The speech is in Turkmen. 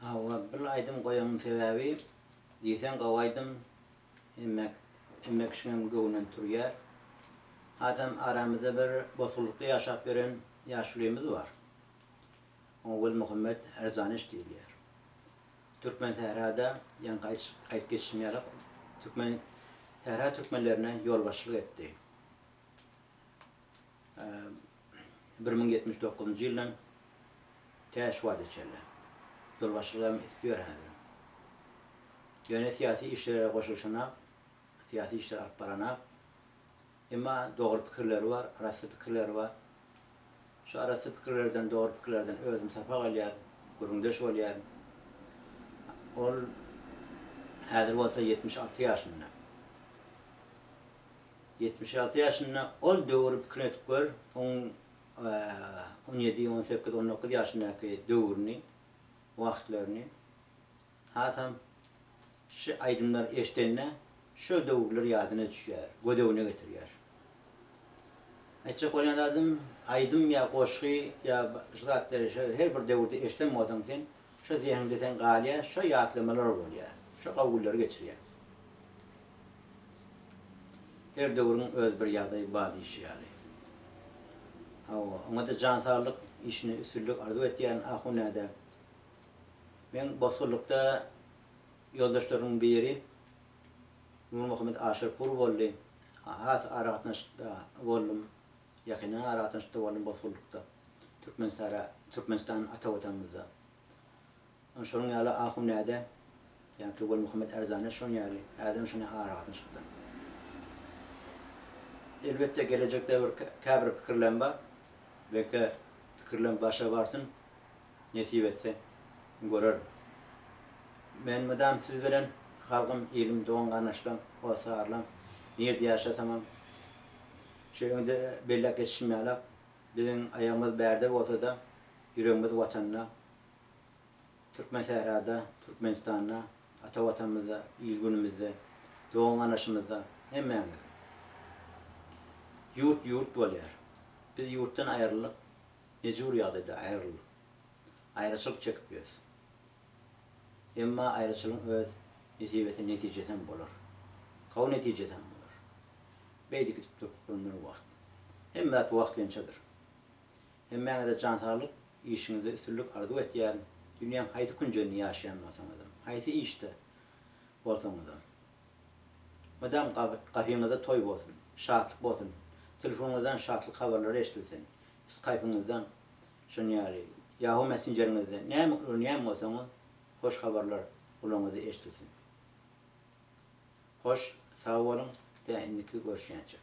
Hawa bil aýdym goýanyň sebäbi diýseň gowy aýdym hemme hemme kişiňem göwnünden turýar. Adam aramyzda bir bosgunlykda ýaşap ýören ýaşulymyz bar. Oňa Welmuhammet Erzaneş diýilýär. Türkmen sährada ýaňky aýt aýt geçişim ýaly türkmen sähra türkmenlerine ýolbaşçylyk etdi. bir müň ýetmiş dokuzynjy ýyldan tä şu wagta çenli ýolbaşçylygam edip ýör häzirem. Ýöne syýasy işlere goşulyşanak, syýasy işler alyp baranak. Emma dogry pikirleri bar, arassa pikirleri bar. Şu arassa pikirlerden, dogry pikirlerden özüm sapak alýaryn, gürrüňdeş bolýaryn. Ol häzir bolsa ýetmiş alty ýaşynda. Ýetmiş alty ýaşynda ol döwri pikir edip gör, oň on ýedi, on sekiz, on dokuz ýaşyndaky döwrüni, wagtlaryny. Hasam şu aýdymlary eşidende şo döwürler ýadyna düşýär, göz öňüne getirýär. Aýtjak bolýan zadym, aýdym ýa goşgy ýa şu zatlary şo her bir döwürde eşiden bolsaň sen, şo zehinde sen galýar, şo ýatlamalar bolýar, şo gawy günleri geçirýär. Her döwrüň öz bir ýagdaýy bar diýşi ýaly. Hawa, oňa-da jan saglyk, işine üstünlik arzuw etýärin, a hunada. Meň bosgunlykda ýoldaşlarymyň biri Nurmuhammet Aşyrpur boldy. Has aragatnaşykda boldum, ýakyndan aragatnaşykda boldum bosgunlykda, Türkmenistara, Türkmenistan ata Watanymyzda. Ol şonuň ýaly Ahunzäde ýa Tugul Muhammet Ärzana şonuň ýaly ädem şonda aragatyn çykdy. Elbetde gelejekde bir käbir pikirlem bar. Belki pikirlem başa barsyn. Nesip etse görerin. Men mydam siz bilen halgym ilim dogan garnaşlam hossarlam nirde ýaşasamam şu öňde belläp geçişim ýalak biziň aýagymyz bärde bolsada ýüregimiz watanda. Türkmensährada, Türkmenistanda, ata Watanymyzda, il-günümizde, dogan-ganaşymyzda hemmämiz. Ýurt ýurt bolýar. Biz ýurtdan aýryldyk, mejbury ýagdaýda aýryldyk. Aýraçylyk çekip ýörüs. Emma aýraçylygyň öz nesibesi, netijesi hem bolar. Gowy netijesi hem bolar. Beýdip gidip durkup bolmaz wagt. Hemme zat wagtlençedir. Hemmäňize jan saglyk, işiňizde üstünlik arzuw etýärin. Dünýäň haýsy künjeginde ýaşaýan bolsaňyzam, haýsy işde bolsaňyzam, mydam gapyňyzda toý bolsun, şatlyk bolsun, telefonyňyzdan şatlyk habarlary eşidilsin, skaýpyňyzdan, şonuň ýaly Yahoo messenjeriňizden näme ulanýan bolsaňyz, hoş habarlar gulagyňyza eşidilsin. Hoş, sag boluň, tä indiki görüşýänçik.